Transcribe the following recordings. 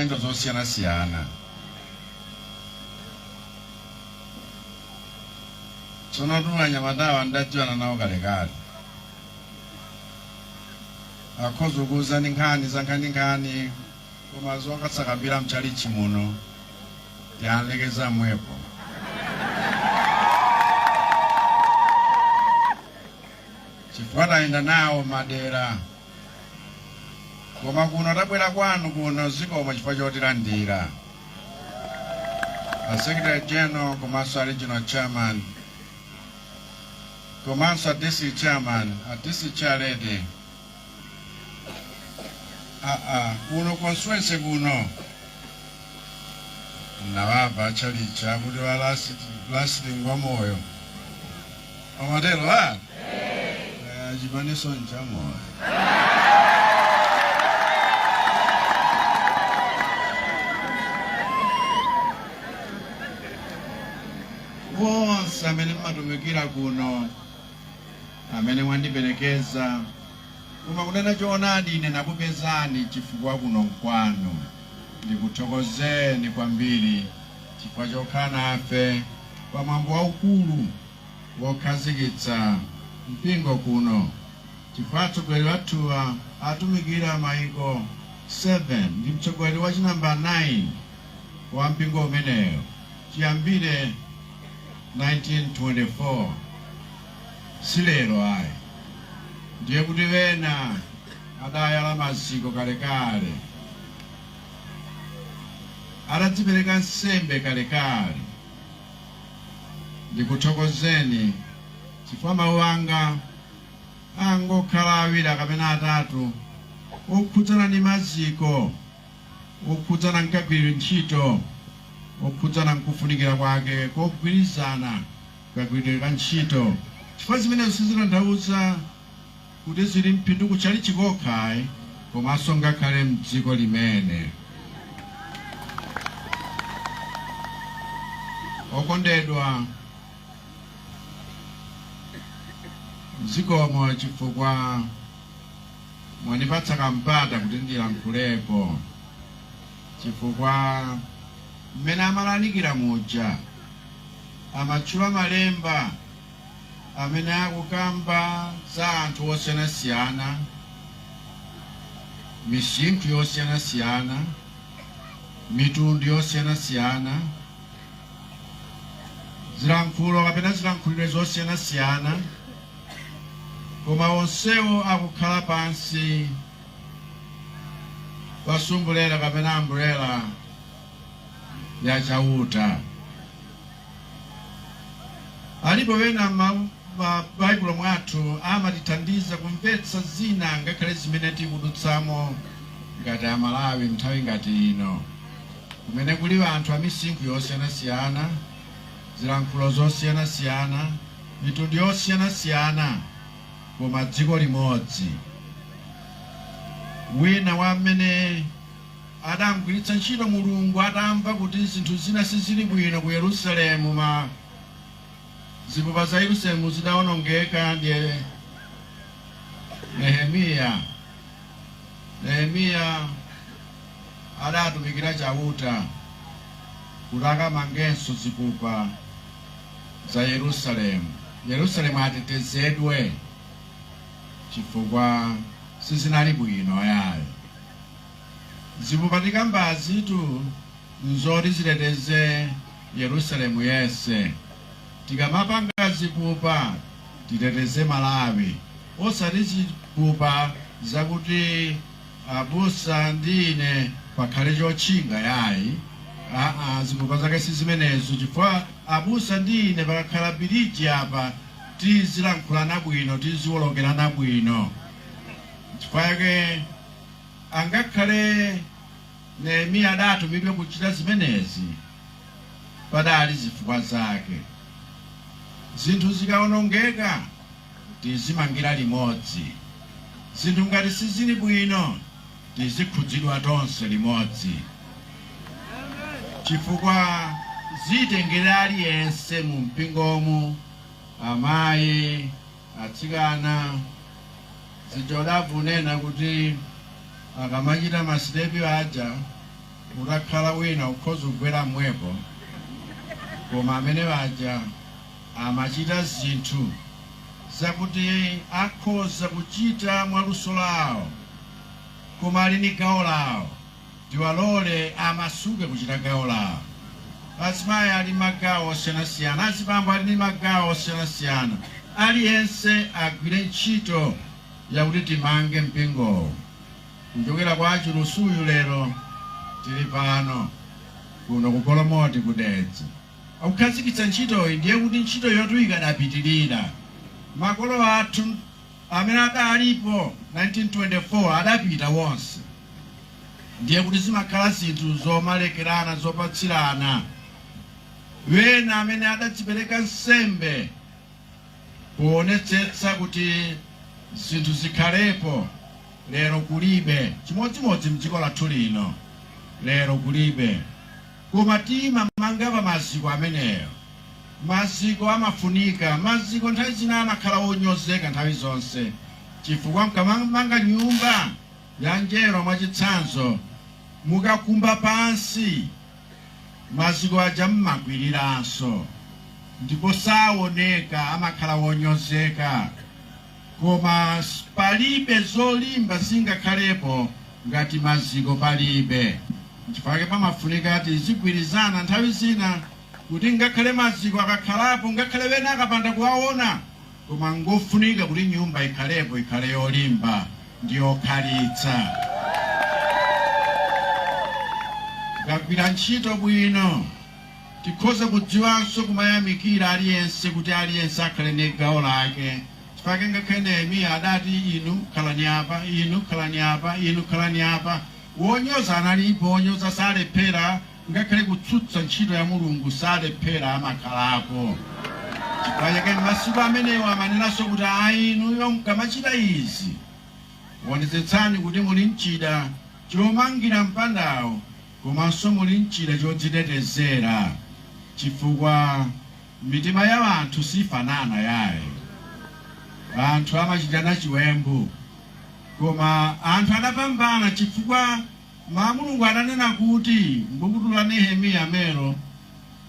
ndi zosiyanasiyana. Tsono tu anyamatawa ndidadziwana nawo kalekale. Akhoza kukuuzani nkhani zankhaninkhani koma zosakakambira m'tchalitchi muno tilekeza pomwepo. Chifukwa tayenda nawo madera. Koma kuno tabwera kwanu kuno zikomo chifukwa chotilandira. A Secretary General komanso a Regional Chairman komanso a District Chairman, a District Chair Lady. Ah ah, kuno constituency kuno. Nawava achalichi kuti wa last ngwamoyo. Amatero a? Kaya chipaninso nchamoyo. Wonse amene mmatumikira kuno, amene mwandiperekeza, koma kunena choonadi ine nakupezani chifukwa kuno nkwanu. Ndikuthokozeni kwambiri. chifukwa chokhala nafe pa mwambo waukulu wokhazikitsa mpingo kuno, chifukwa atsogoleri athuwa atumikira maiko 7 ndi mtsogoleri wa chi number 9 wa mpingo umenewo chiyambire 1924 si lero ayi, ndiye kuti ena adayala maziko kalekale. adadzipereka nsembe kalekale. Ndikuthokozeni chifukwa mawu anga angokhala awiri kapena atatu okhudzana ndi maziko, okhudzana nkagwiridwe ntchito, okhudzana nkufunikira kwake kogwirizana kagwiridwe ka ntchito, chifukwa zimenezo sizitanthauza kuti zili m'phindu ku tchalitchi kokha ayi komanso ngakhale mdziko limene okondedwa zikomo chifukwa mwandipatsa kampata kuti ndilankhulepo chifukwa mmene amalalikira muja amatchula malemba amene akukamba za anthu osiyanasiyana, misinkhu yosiyanasiyana, mitundu yosiyanasiyana, zilankhulo kapena zilankhuliro zosiyanasiyana, koma onsewo akukhala pansi pa sumbulela kapena ambulella ya Chauta. Alipo ena m'mabaibulo mwathu amatithandiza kumvetsa zina ngakhale zimene tikudutsamo ngati a Malawi nthawi ngati ino kumene kuli anthu a misinkhu yosiyanasiyana, zilankhulo zosiyanasiyana, mitundu yosiyanasiyana koma dziko limodzi. Wina wa m'mene. adamgwiritsa ntchito Mulungu atamva kuti zinthu zina sizili bwino ku Yerusalemu ma zipupa za Yerusalemu zidaonongeka ndi Nehemiya Nehemiya adaatumikira Chauta kuti akamangenso zipupa za Yerusalemu Yerusalemu atetezedwe chifukwa sizinali bwino yayi. Zipupa tikambazitu n'zoti ziteteze Yerusalemu yense. Tikamapanga zipupa titeteze Malawi, osati zipupa zakuti abusa ndi ine pakhale chotchinga yayi. Aa, zipupa zake si zimenezo chifukwa abusa ndi ine pakakhala biliji apa tizilankhulana bwino, tiziwolokerana bwino. Chifukwa chake. Angakhale Nehemiya adatumidwe kuchita zimenezi, padaali zifukwa zake. Zinthu zikaonongeka, tizimangira limodzi. Zinthu ngati sizili bwino, tizikhudzidwa tonse limodzi. Chifukwa zitengera aliyense mumpingomu, amai, Atsikana, zija n'tafuna unena kuti akamachita masitepi aja utakhala wina ukhoza kugwera momwepo koma amene aja amachita zinthu zakuti akhoza kuchita mwa luso lawo koma ali ni gawo lawo. Tiwalole amasuke kuchita gawo lawo. Azimayi ali ndi magawo osiyanasiyana, azibambo ali ndi magawo osiyanasiyana. Aliyense agwire ntchito yakuti timange mpingowu. Kuchokera kwa Achilusi uyu lero tili pano, kuno ku Golomoti ku Dedza. Akukhazikitsa ntchitoyi ndiye kuti ntchitoyotu ikadapitirira. Makolo athu. amene adalipo 1924 adapita wonse ndiye kuti zimakhala zinthu zomalekerana zopatsirana wena amene adadzipereka nsembe kuonetsetsa kuti zinthu zikhalepo lero kulibe chimodzimodzi mdziko lathu lino lero kulibe. Koma timamanga pa maziko ameneyo. Maziko amafunika. Maziko nthawi zina amakhala onyozeka nthawi zonse, chifukwa mukamamanga nyumba ya njerwa mwachitsanzo, mukakumba pansi, maziko aja m'makwiriranso ndipo saoneka, amakhala onyozeka. Koma palibe zolimba zingakhalepo ngati maziko palibe. Nchifukwa chake pamafunika tizigwirizana nthawi zina kuti ngakhale maziko akakhalapo, ngakhale wena akapanda kuwaona, koma ngofunika kuti nyumba ikhalepo, ikhale yolimba ndi yokhalitsa. Tikagwira ntchito bwino Tikhoza kudziwanso kumayamikira aliyense kuti aliyense akhale ndi gawo lake. Chifukwa chake ngakhale Nehemiya adati, Inu khalani apa, inu khalani apa, inu khalani apa. Wonyoza analipo, wonyoza salephera, ngakhale kutsutsa ntchito ya Mulungu salephera amakhalapo. Chifukwa chake m'masiku amenewo ananenanso kuti, Ayi inuyo mkamachita izi, wonetsetsani kuti muli n'chida chomangira mpandawo Komanso muli n'chida chodzitetezera chifukwa mitima ya wanthu sifanana yaye. Anthu amachitana chiwembu, koma anthu adapambana chifukwa mawu a Mulungu adanena kuti m'bukutu la Nehemiya m'menemo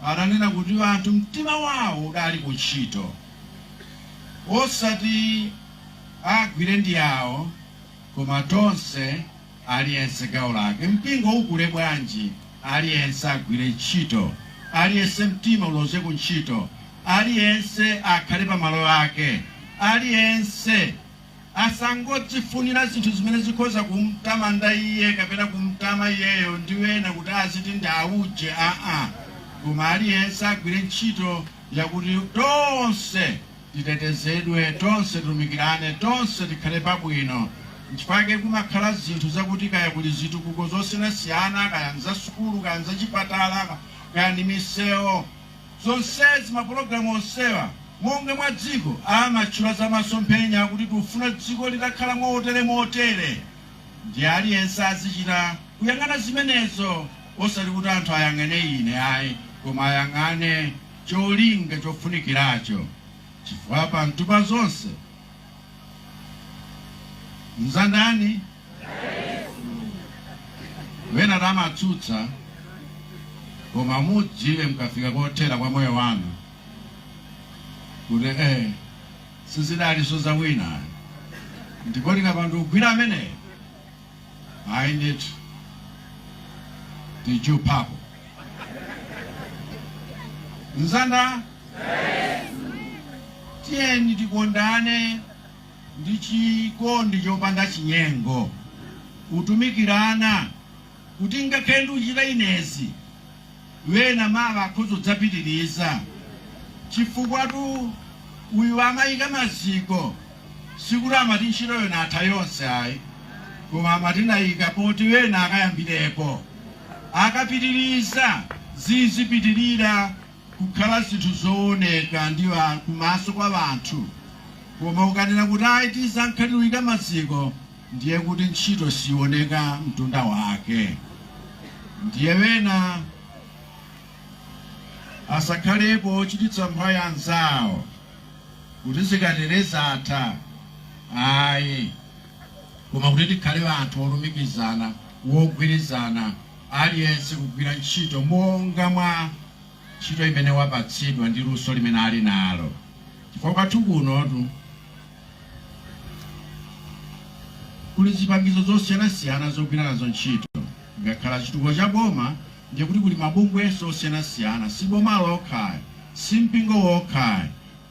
adanena kuti wanthu mtima wao udali ku ntchito, osati agwire ndi awo, koma tonse. Aliyense gawo lake, mpingo ukule bwanji, aliyense agwire ntchito, aliyense mtima uloze ku ntchito, aliyense akhale pa malo ake, aliyense asangodzifunira zinthu zimene zikhoza kumtamanda iye kapena kumtama iyeyo ndi ena kuti aziti ndi auje, aa, koma aliyense agwire ntchito yakuti tonse titetezedwe, tonse titumikirane, tonse tikhale pabwino. Nchifukwa chake kumakhala zinthu zakuti kaya kuli zitukuko zosiyanasiyana, kaya nzasukulu, kaya nzachipatala, kaya ndi misewu, zonsezi, mapologalamu onsewa, monga mwa dziko, amatchula za masomphenya kuti tiufuna dziko litakhala motere motere. Ndiye aliyense azichita kuyang'ana zimenezo, osati kuti anthu ayang'ane ine ayi, koma ayang'ane. cholinga chofunikiracho, chifukwa pamthu pa zonse nza ndani? Wena tamatsutsa, koma mudziwe mkafika kothera kwa moyo wanu kuti eh, sizidaliso za wina ayi, ndipo tikapanda kugwira ameneyo Ayi ndithu tijuphapo mzanda tiyeni tikondane ndi chikondi chopanda chinyengo kutumikirana kuti ngakhale ndiuchita inezi wena mawa akhoza kudzapitiriza, chifukwatu uyu amayika maziko, sikuti amati ntchito yona atha yonse ayi, koma amati ndayika poti wena akayambirepo, akapitirize zizipitirira kukhala zinthu zowoneka ndi kumaso kwa anthu, koma ukanena kuti ayi tizingokhala tiuyika maziko ndiye kuti ntchito sioneka mtunda wake ndiye wena asakhalepo ochititsa mphwayi anzawo kuti zikatere zatha ayi koma kuti tikhale anthu olumikizana wogwirizana aliyense kugwira ntchito monga mwa ntchito imene wapatsidwa ndi luso limene ali nalo chifukwa kwathu kunotu Kuli zipangizo zosiyanasiyana zogwira nazo ntchito. Ngakhala chitukuko cha boma ndiye kuti kuli mabungwenso osiyanasiyana, si boma lokha ayi, si mpingo wokha ayi,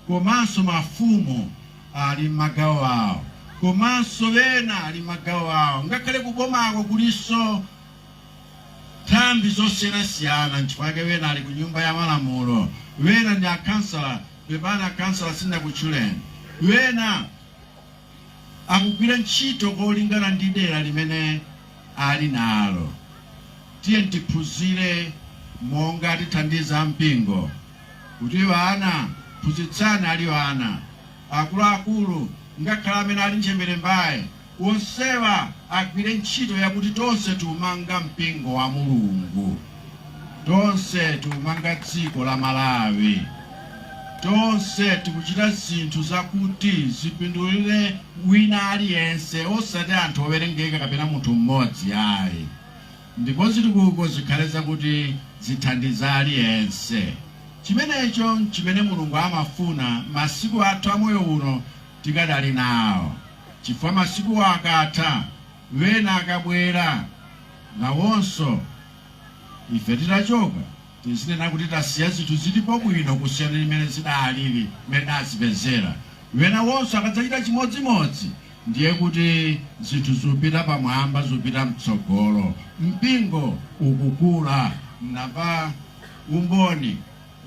komanso mafumu ali mmagawo awo, komanso wena ali mmagawo awo. Ngakhale kubomako kulinso nthambi zosiyanasiyana, nchifukwa chake wena ali ku nyumba ya malamulo, wena ndi akhansala, Pepani a councillor sindinakutchuleni. Wena akugwira ntchito kolingana ndi dera limene ali nalo. Tiyeni tiphunzire monga tithandiza mpingo kuti ana phunzitsani ali ana, akuluakulu ngakhale amene ali ntchemberembaya. Onsewa agwire ntchito yakuti tonse tiumanga mpingo wa Mulungu, tonse tiumanga dziko la Malawi, tonse tikuchita zinthu zakuti zipindulire wina aliyense osati anthu owerengeka kapena munthu mmodzi ayi ndipo zitukuko zikhale zakuti zithandiza aliyense. Chimenecho chimene Mulungu amafuna masiku athu a moyo uno tikadali nawo. Chifukwa masiku akatha, wena akabwera, nawonso. Ife titachoka, tizinena kuti tasiya zinthu zilipo bwino kusiyana ndi mmene zidaaliri mmene tidazipezera. Wena wonso akadzachita chimodzimodzi, ndiye kuti zinthu zipita pamwamba, zipita mtsogolo. Mpingo ukukula. Mnamva umboni.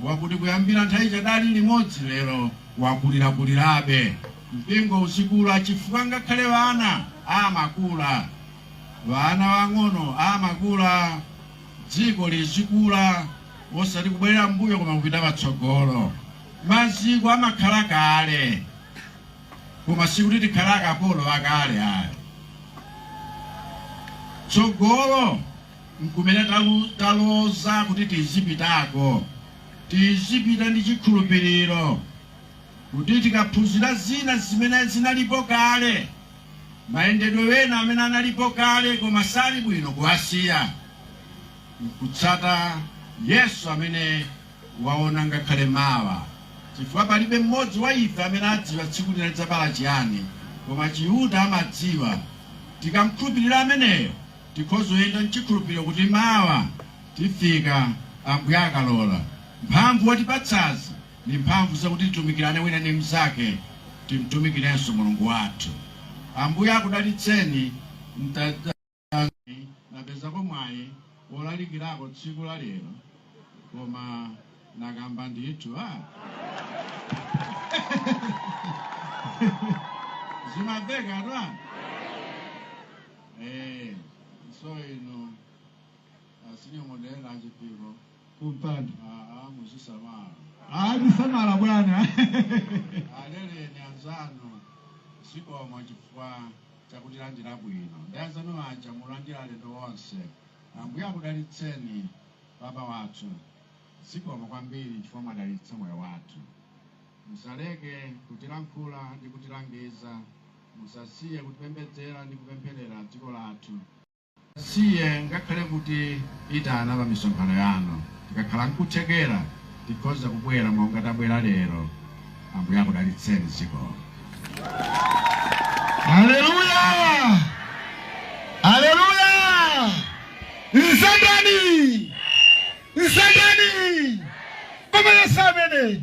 wakuti kuyambira nthawi chadali limodzi lero wakulirakulirabe mpingo uzikula chifukwa ngakhale wana amakula wana wang'ono amakula dziko lizikula osati kubwerera mbuyo koma kupita patsogolo maziko amakhala kale koma sikuti tikhala akapolo akale ayi tsogolo nkumene taloza kuti tizipitako. Tizipita ndi chikhulupiriro kuti tikaphunzira zina zimene zinalipo kale, mayendedwe ena amene analipo kale koma sali bwino kuwasiya, nkutsata Yesu amene waona ngakhale mawa, chifukwa palibe mmodzi wa ife amene adziwa tsiku lina lidzabala chiyani, koma Chiuta amadziwa. Tikamkhulupirira ameneyo, Tikhoza kuyenda mchikhulupiro kuti mawa tifika Ambuye akalola. Mphamvu watipatsazi ndi mphamvu zakuti titumikirane wina ndi mnzake timtumikirenso Mulungu wathu. Ambuye akudalitseni mtadzani napezako mwayi wolalikirako tsiku la lero koma nakamba ndithu ah! Zimavekatu ah! Eh, so inu a synod moderator achipiko kumpanda aa muzisamala ati samala bwana aleleni anzanu zikomo chifukwa chakutilandira bwino ndi anzanu aja mulandira alendo onse ambuye akudalitseni baba wathu zikomo kwambiri chifukwa mwadalitsa moyo wathu musaleke kutilankhula ndi kutilangiza Musasiye kutipembedzera ndi kupempherera dziko lathu. Musasiye ngakhale kutiitana pa misonkhano yanu. Tikakhala nkuthekera, tikhoza kubwera monga tabwera lero. Ambuye akudalitseni. Zikomo. Aleluya! Aleluya! Nsandani! Nsandani! Koma Yesu amene!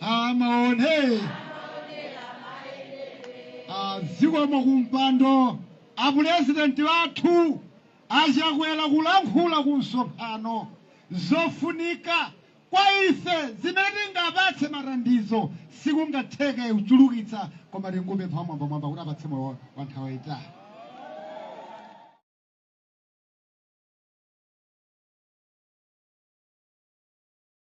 amaone zikomo kumpando apulezidenti athu achakwera kulankhula ku msonkhano zofunika kwa ife zimene tingapatse mathandizo sikungatheke kuchulukitsa koma tingopempha Mwambamwamba kuti awapatse moyo wa nthawi yayitali